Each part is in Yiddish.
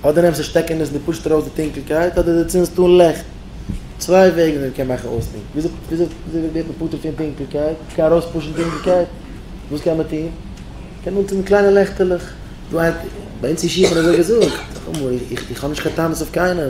אדער נעמסט די שטעקענעס און דו פושסט ארויס די טונקלקייט, אדער דו צינדסט אן ליכט. צוויי וועגן ווי מען קען מאכן אויסטונקל. וויאזוי ווערט מען פטור פון טונקלקייט? מען קען ארויספושן טונקלקייט. וואס קען מען טון? מען קען אנצינדן קליינע לעכטעלעך. ביי אונז אין ישיבה האט מען אזוי געזאגט. איך האב נישט קיין טענות אויף קיינעם.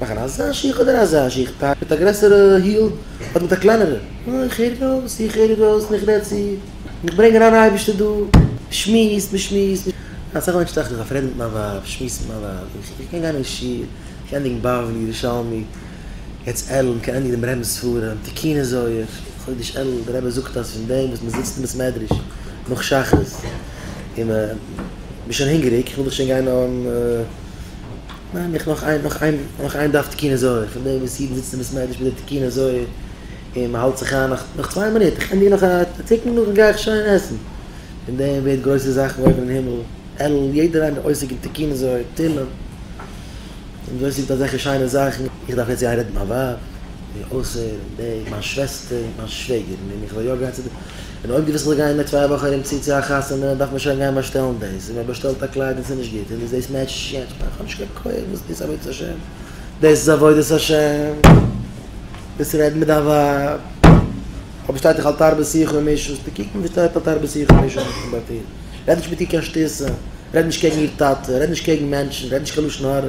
מאכן אזא שיך אדער אזא שיך, טאג מיט א גרעסערע היל אדער מיט א קלענערע, אוי איך הער ארויס, איך הער ארויס און איך רעד צו, און איך ברענג אריין אייבערשטער דא, מ'שמועסט מ'שמועסט, אסאך מענטשן טראכטן איך דארף רעדן מיט מיין ווייב, שמועסן מיט מיין ווייב, איך איך קען גיין אין שול, איך קען ענדיגן בבלי, ירושלמי, יעצט אלול, איך קען ענדיגן דעם רמב ם'ס ספרים, תיקוני זוהר, חודש אלול, דער רבי זאגט אז פון דעם וואס מ'זיצט אין בית מדרש נאך שחרית, און מ'איז שוין הונגעריג, איך וויל דאך שוין גיין אהן. מיין איך נאך איין נאך איין נאך איין דף תקין הזוהר פון דעם וואס אידן זיצן ביז מדי שביעי תקין הזוהר און מען האלט זיך איין נאך נאך צוויי מינוט איך ענדיג נאך א תיקון נאכדעם גיי איך שוין עסן פון דעם ווערט גרויסע זאכן אויבן אין הימל אלול יעדער איינער עוסק אין תקין הזוהר תהילים און דאס איז אזעלכע שיינע זאכן איך דארף יעצט גיין רעדן מיט מיין ווייב און אויסהערן דעם מיין שוועסטער מיין שוועגערן און איך וועל יא גיין צו די. און אויב דו ווילסט זיך גיין מיט צוויי וואכן ארום צו צו א חתונה דארף מען שוין גיין באשטעלן דאס, און מען באשטעלט א קלייד און ס'איז נישט גוט און דאס דאס מעטשט נישט יענץ, כ'מיין כ'האב נישט קיין כח וואס דאס עבודת השם, דאס איז עבודת השם, דאס רעדן מיט דיין ווייב, אויב שטייט דאך אל תרבה שיחה ומשון, ס'טא קוקן וואס שטייט אל תרבה שיחה ומשון אויפן באטען, רעד נישט מיט איר קיין שטותים, רעד נישט קעגן איר טאטע, רעד נישט קעגן מענטשן, רעד נישט קיין לשון הרע.